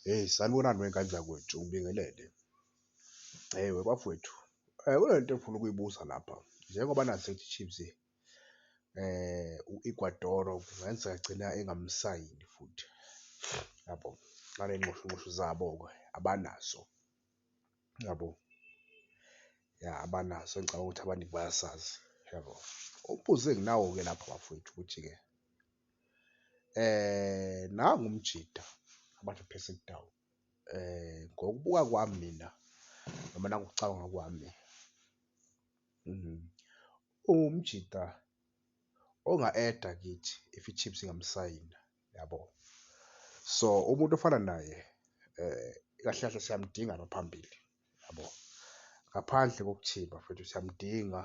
Hheyi sanibonani wey'ngane zakwethu ngibingelele. Hheyi webafwethu kunento engifuna ukuyibuza lapha njengoba nazi ukuthi i-Chiefs u-Ecuador kungenzeka agcina engamsayini futhi yabo ngale nxushunxushu zabo-ke abanazo yabo. Ya abanazo engicabanga ukuthi abaningi bayasazi yabo. Umbuzo enginawo-ke lapho bafwethu ukuthi-ke. Eh nangu umjita abantu phese kudawu eh ngokubuka kwami mina noma nangokucabanga kwami umjita onga-eda kithi if iChiefs ingamsayina yabo. So umuntu ofana naye kahle kahle siyamdinga la phambili yabo, ngaphandle bafethu siyamdinga.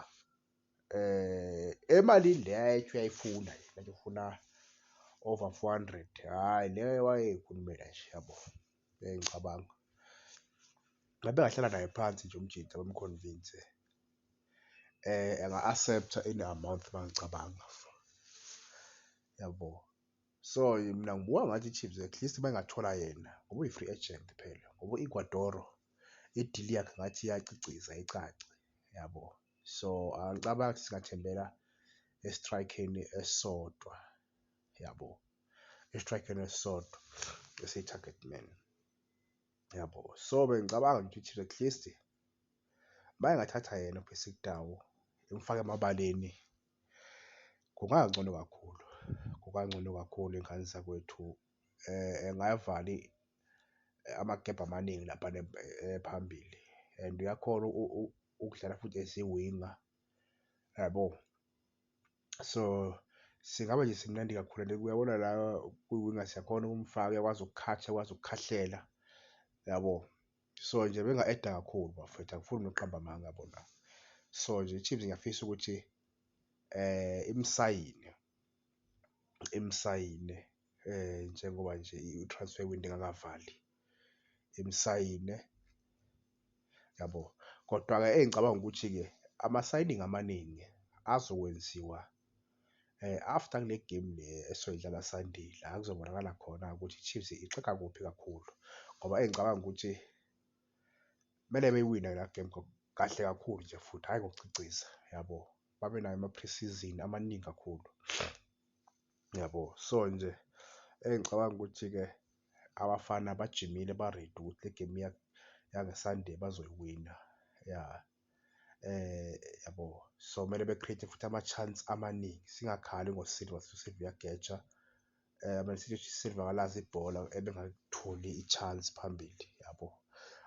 eh emalini le ayethu uyayifuna manje ufuna over 400 hayi le wayeyikhulumela nje yabo bengicabanga ngabe ngahlala naye phansi nje umjita bamconvince eh enga accepta in amount mangicabanga yabo so mina ngibuka ngathi iChiefs at least bangathola yena ngoba uyi free agent phela ngoba Ecuador idili yakhe ngathi iyaciciza icace yabo so angicabangi ukuthi singathembela esitrayikheni esisodwa yabo esitrayikheni esisodwa esiyi-target man yabo so bengicabanga nje ukuthi at least mayengathatha yena uBasic Tau imfake emabaleni kungangcono kakhulu kungangcono kakhulu ingane zakwethu engawavali amagebhe amaningi laphana phambili and uyakhona ukudlala futhi esiwinga yabo. So singaba nje simnandi kakhulu and uyabona la kwiwinga siyakhona ukumfaka uyakwazi ukukhatha uyakwazi ukukhahlela yabo. So nje benga-eda kakhulu bafethu angifuni nokuqamba amanga yabo la. So nje iChiefs ngiyafisa ukuthi imsayine. imsayine njengoba nje i-transfer window ingakavali, imsayine yabo. Kodwa-ke engicabanga ukuthi-ke ama-signing amaningi azokwenziwa after kule gemu le esoyidlala Sunday la kuzobonakala khona ukuthi i-Chiefs ixega kuphi kakhulu ngoba engicabanga ukuthi kumele beyiwine la gemu kahle kakhulu nje futhi hhayi ngokuciciza yabo. babe nayo ama-pre-season amaningi kakhulu, yabo. So nje engicabanga ukuthi-ke abafana bajimile ba-ready ukuthi le game yange-Sunday bazoyiwina, ya. Yabo, so kumele be-create-e futhi ama-chance amaningi, singakhali ngo-Silva sithi u-Silva uyageja, Man City ithi u-Silva akalazi ibhola ebengalitholi i-chance phambili, yabo.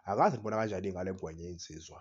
Angazi nibona kanjani-ke ngale ngwenya yensizwa.